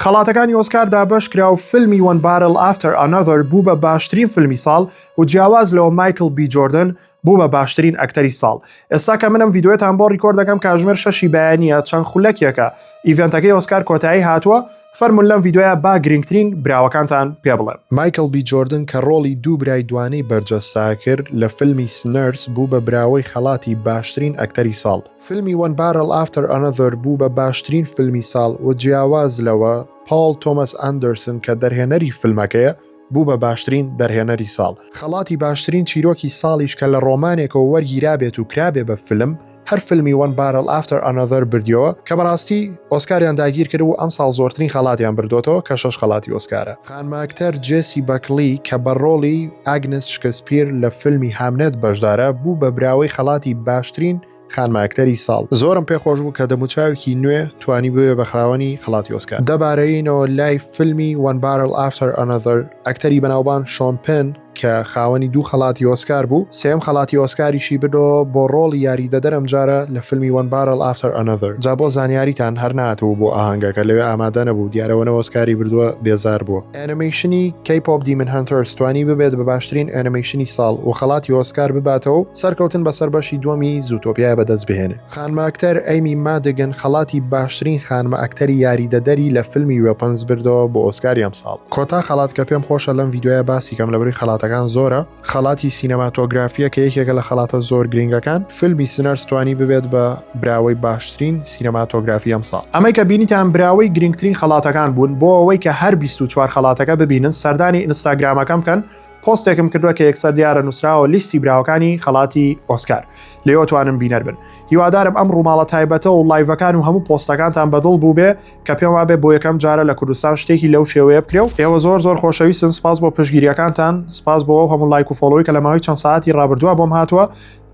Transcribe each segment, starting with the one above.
خەڵاتەکانی ئۆسکار دابەش کرا و فیلمی وەن بارل ئافتەر ئانەذەر بوو بە باشترین فیلمی ساڵ و جیاواز لەوە مایکل بی جۆردن بوو بە باشترین ئەکتەری ساڵ ئێستا کە منم ڤیددیوێتان بۆ ڕیکۆرد دەکەم کاژمێر شەشی بەیانە چەند خولەکێکە ئیڤێنتەکەی ئۆسکار کۆتایی هاتووە فەرمون لەم ڤیددیوە با گرنگترین براوەکانتان پێ بڵێم مایکل بی جۆردن کە ڕۆڵی دوو برای دوانەی بەرجەستە کرد لە فیلمی سنەرس بوو بە براوەی خەڵاتی باشترین ئەکتەری ساڵ. فیلمی One Battle After Another بوو بە باشترین فیلمی ساڵ و جیاواز لەوە پاڵ تۆمەس ئەندەرسن کە دەرهێنەری فیلمەکەیە بوو بە باشترین دەرهێنەری ساڵ، خەڵاتی باشترین چیرۆکی ساڵیش کە لە ڕۆمانێکەوە وەرگیرابێت و کرابێ بە فیلم هەر فیلمی One Battle After Another بردیەوە کە بەڕاستی ئۆسکاریان داگیرکرد و ئەمساڵ زۆرترین خەڵاتیان بردۆتەوە کە شەش خەڵاتی ئۆسکارە. خانمە ئەکتەر جێسی بەکڵی کە بە ڕۆڵی ئاگنس شکسپیر لە فیلمی هامنێت بەشدارە، بوو بە براوەی خەڵاتی باشترین خانمە ئەکتەری ساڵ. زۆرم پێ خۆش بوو کە دەموچاوێکی نوێ توانی ببێ بە خاوەنی خەڵاتی ئۆسکار. دەبارێینەوە لای فیلمی One Battle After Another، ئەکتەری بەناوبانگ شۆن پێن، کە خاوەنی دوو خەڵاتی ئۆسکار بوو، سێیەم خەڵاتی ئۆسکاریشی بردەوە بۆ ڕۆڵی یاریدەدەر ئەمجارە لە فیلمی One Barrel After Another جا بۆ زانیاریتان هەر نەهاتبوو بۆ ئاهەنگەکە لەوێ ئامادە نەبوو دیارە وەنە ئۆسکاری بردووە بێزار بووە. ئەنیمەیشنی K-Pop Demon Hunters توانی ببێت بە باشترین ئەنیمەیشنی ساڵ و خەڵاتی ئۆسکار بباتەوە و سەرکەوتن بەسەر بەشی دووەمی زووتۆپیای بەدەست بهێنێ. خانمە ئەکتەر ئەیمی مادگن خەڵاتی باشترین خانمە ئەکتەری یاریدەدەری لە فیلمی وێپنز بردەوە بۆ ئۆسکاری ئەمساڵ. کۆتا خەڵات کە پێم خۆشە لەم ڤیدیۆیە باسی کەم لەبری خەڵاتەکان زۆرە خەڵاتی سینەماتۆگرافیە کە یەکێکە لە خەڵاتە زۆر گرینگەکان فیلمی سنەرس توانی ببێت بە براوەی باشترین سینەماتۆگرافی ئەمساڵ. ئەمەی کە بینیتان براوەی گرینگترین خەڵاتەکان بوون بۆ ئەوەی کە هەر بیست و چوار خەڵاتەکە ببینن سەردانی ئینستاگرامەکەم بکەن پۆستێکم کردوە کە یەکسەر دیارە نوسراوە لیستی براوەکانی خەڵاتی ئۆسکار لێوە توانن بینەر بن هیوادارم ئەم ڕووماڵە تایبەتە و لایڤەکان و هەموو پۆستەکانتان بەدڵ بوو بێ کە پێم وابێ بۆ یەکەم جارە لە کوردستان شتێکی لەو شێوەیە بکرێ و ئێوە زۆر زۆر خۆشەویستن سپاس بۆ پشگیریەکانتان سپاس بۆ ئەو هەموو لایک و فۆلۆی کە لە ماوەی چەند ساعتی ڕابردووە بۆم هاتووە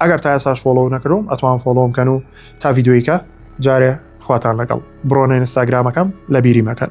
ئەگەر تا ئێساش فۆلۆ نەکردم ئەتوان فۆلۆم کەن و تا یددیویکە جارێ خواتان لەگەڵ بڕۆنە ئینستاگرامەکەم لە بیری مەکەن